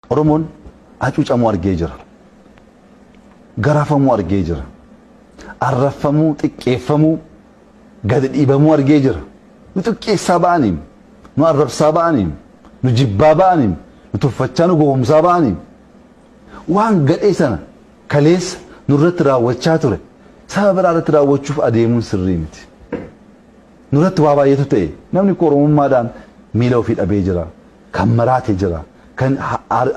Oromoon hacuucamuu argee jira. Garafamuu argee jira. Arrabsamuu, xiqqeeffamuu, gadi dhiibamuu argee jira. Nu xiqqeessaa ba'aniim, nu arrabsaa ba'aniim, nu jibbaa ba'aniim, nu tuffachaa nu gowwomsaa ba'aniim. Waan gadhee sana kaleessa nurratti raawwachaa ture saba biraa irratti raawwachuuf adeemuun sirrii miti. Nurratti waa baay'eetu ta'e. Namni koo Oromummaadhaan miila ofii dhabee jira. Kan maraate jira. Kan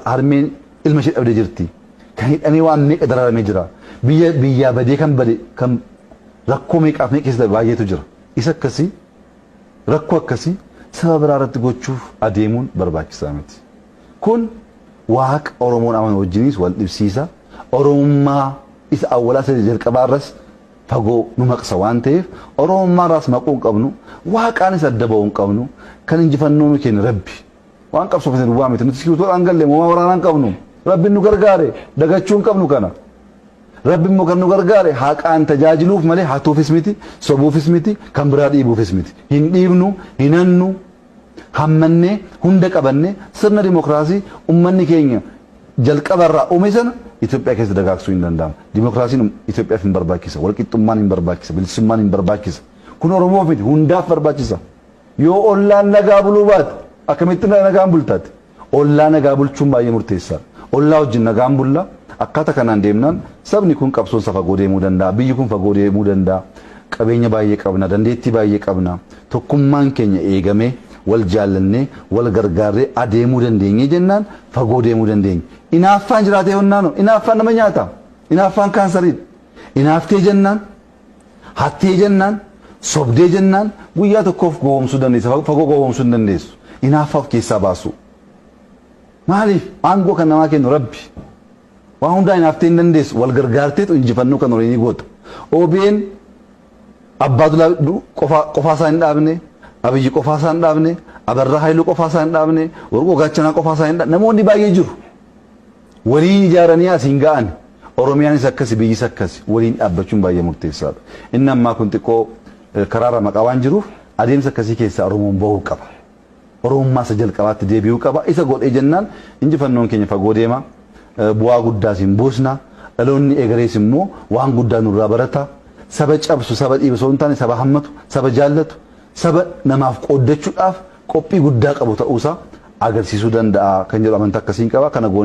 harmeen ilma ishee dhabdee jirti. Kan hidhamee waan meeqa dararamee jira. Biyya biyyaa badee kan bade kan rakkoo meeqaaf meeqa keessa darbe baay'eetu jira. Isa akkasii rakkoo akkasii saba biraa irratti gochuuf adeemuun barbaachisaa miti. Kun Waaqa Oromoon amanu wajjinis wal dhibsiisa. Oromummaa isa awwalaa isa jalqabaa irras fagoo nu maqsa waan ta'eef Oromummaarraas maquu hin qabnu, Waaqaanis adda ba'uu hin qabnu, kan injifannoo nu kenne Rabbi. Waan qabsoofne duwwaa miti, nuti iskiribtoodhaan galle, moomaa waraanaa hin qabnu. Rabbi nu gargaare, dagachuu hin qabnu kana. Rabbi immoo kan nu gargaare haqaan tajaajiluuf malee hatuufis miti, sobuufis miti, kan biraa dhiibuufis miti. Hin dhiibnu, hin hannu. hammannee, hunda qabannee sirna dimokraasii ummanni keenya jalqaba irraa ume sana Itoophiyaa keessa dagaagsuun hin danda'ama. Dimokraasiin Itoophiyaaf hin barbaachisa, walqixxummaan hin barbaachisa, bilisummaan hin barbaachisa. Kun Oromoof miti hundaaf barbaachisa. Yoo ollaan nagaa buluu baate akkamitti nagaan bulta ati? Ollaa nagaa bulchuun baay'ee murteessaadha. Ollaa wajjin nagaan bulla, akkaata kanaan deemnaan sabni kun qabsoon isaa fagoo deemuu danda'a, biyyi kun fagoo deemuu danda'a, qabeenya baay'ee qabna, dandeettii baay'ee qabna, tokkummaan keenya eegamee, wal jaallannee, wal gargaarree adeemuu dandeenye jennaan fagoo deemuu dandeenya. Inaaffaan jiraatee honnaanoo? Inaaffaan nama nyaata. Inaaffaan kaansariidha. Inaaftee jennaan. Hattee jennaan, sobdee jennaan guyyaa tokkoof gowwoomsuu dandeessa, fa- fagoo gowwoomsuu hin dandeessu. Inaaffaa of keessaa baasuu. Maaliif? Aangoo kan namaa kennu Rabbi. Waan hundaa inaaftee hin dandeessu. Wal gargaarteetu injifannoo kan horii ni goota. OBN abbaa dulaa du- qofaa qofaa isaa hin dhaabne, Abiyyi qofaa isaa hin dhaabne, Abarraa Haayiluu qofaa isaa hin dhaabne, Warqoo Gaachanaa qofaa isaa hin dhaabne. Namoonni baay'ee jiru. Waliin ijaaranii asiin ga'an. Oromiyaanis akkasi biyyis akkasi. Waliin dhaabbachuun baay'ee murteessaadha. Inni ammaa kun xiqqoo karaa ramaqaa waan jiruuf adeemsa akkasii keessaa Oromoon ba'uu qaba. Oromummaa isa jalqabaatti deebi'uu qaba. Isa godhee jennaan injifannoon keenya fagoo deema. Bu'aa guddaas hin buusna. Dhaloonni egerees immoo waan guddaa nurraa barata. Saba cabsu, saba dhiibu osoo hin taane saba hammatu, saba jaallatu, saba namaaf qooddachuudhaaf qophii guddaa qabu ta'uusaa agarsiisuu danda'a kan jedhu amantaa akkasiin qaba. Kana goonee.